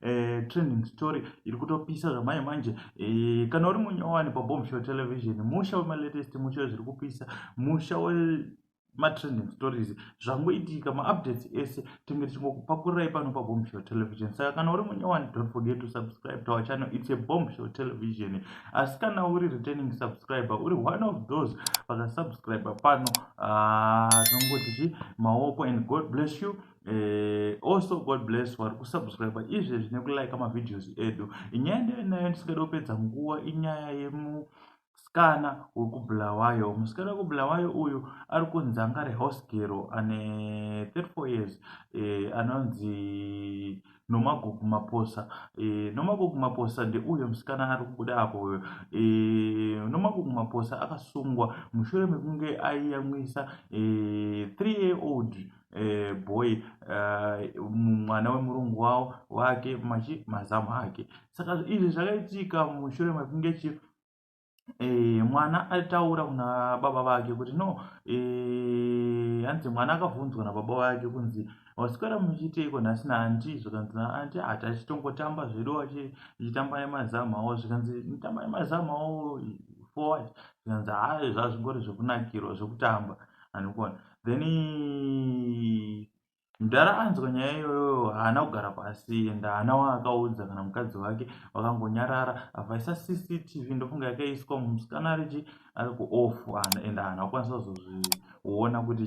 eh, trending story iri kutopisa zvamanje manje eh, kana uri munyowani pabomb show television musha wemalatest musha wezviri kupisa musha we matrending stories zvangoitika maupdates ese tinge tichingokupakurai pano pabomb show television saka kana uri munyowani don't forget to subscribe to our channel it's a bomb show television asi kana uri returning subscriber uri one of those vakasubscriber pano ah, tinongoti uh, chi maoko and god bless you Eh, also god bless vari kusubscribe izvezvi nekulike mavideos edu inyaya ndeinayo ndisingada kupedza nguva inyaya yemusikana wekubulawayo musikana wekubulawayo uyu ari kunzi anga ari house gero ane 34 years eh, anonzi nomagogo maposa eh, nomagogo maposa ndeuyo musikana ari kubuda apo uyo eh, nomagogo maposa akasungwa mushure mekunge aiyamwisa eh, 3 year old eh, boy eh, mwana uh, wemurungu wavo wake machi mazamu ake saka izvi zvakaitika mushure mekunge chi eh, mwana ataura kuna baba vake kuti no eh, hanzi mwana akavhunzwa nababa vake kunzi vasikana muchiiteiko nhasi naanti zvikanzi naanti hati achitongotamba zvedu achitamba nemazamu avo zvikanzi nitamba nemazamu avo forward zvikanzi haa zvazvingori zvekunakirwa zvekutamba anikuona then mudhara anzwa nyaya iyoyo haana kugara pasi ende haana waakaudza kana mukadzi wake vakangonyarara avaisa cctv ndofunga yakaiswa musikana arichi ari kuoff ende haana kukwanisa kuzozviona kuti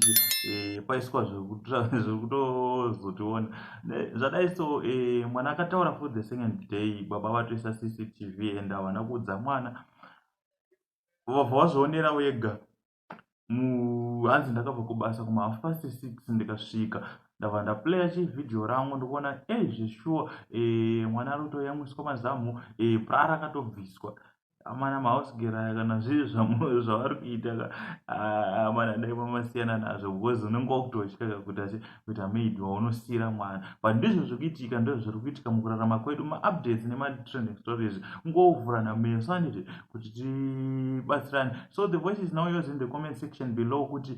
eh, paiswa zvekutozotiona zvadai so eh, mwana akataura for the second day baba vatoisa cctv ende havana kuudza mwana vabva vazvionera wega hanzi ndakabva kubasa kuma half past six ndikasvika ndava ndaplaya chivideo rangu ndikuona e eh, zveshuwa e eh, mwana ari kutoyamwiswa mazamu e eh, prara akatobviswa amana mahausgeraya kana zviri zvamoyo zvavari kuita ka amana dai mamasiyana nazvo because unenge wakutotyaka kuti asi kuita maid waunosiira mwana but ndizvo zviri kuitika ndizvo zviri kuitika mukurarama kwedu maupdates nematrending stories ungovhurana meso anditi kuti tibatsirane so the voice is now yours in the comment section below kuti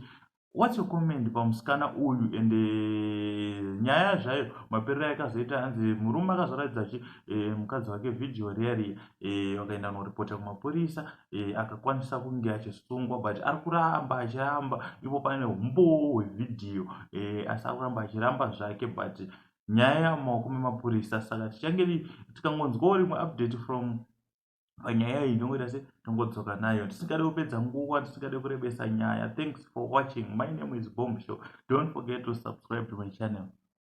what's your comment pamusikana uyu and eh, nyaya zvayo maperero yakazoita hanzi murume akazoratidza chi eh, mukadzi wake vhidhiyo riya riya eh, vakaenda noripota kumapurisa eh, akakwanisa kunge achisungwa but ari kuramba achiramba ipo pane umboo hwevhidhiyo eh, asi ari kuramba achiramba zvake but nyaya yamaoko memapurisa saka tichange tikangonzwawo rimwe update from panyaya iyi ndongoita se tongodzoka nayo tisingade kupedza nguva tisingade kurebesa nyaya thanks for watching my name is bomb show don't forget to subscribe to my channel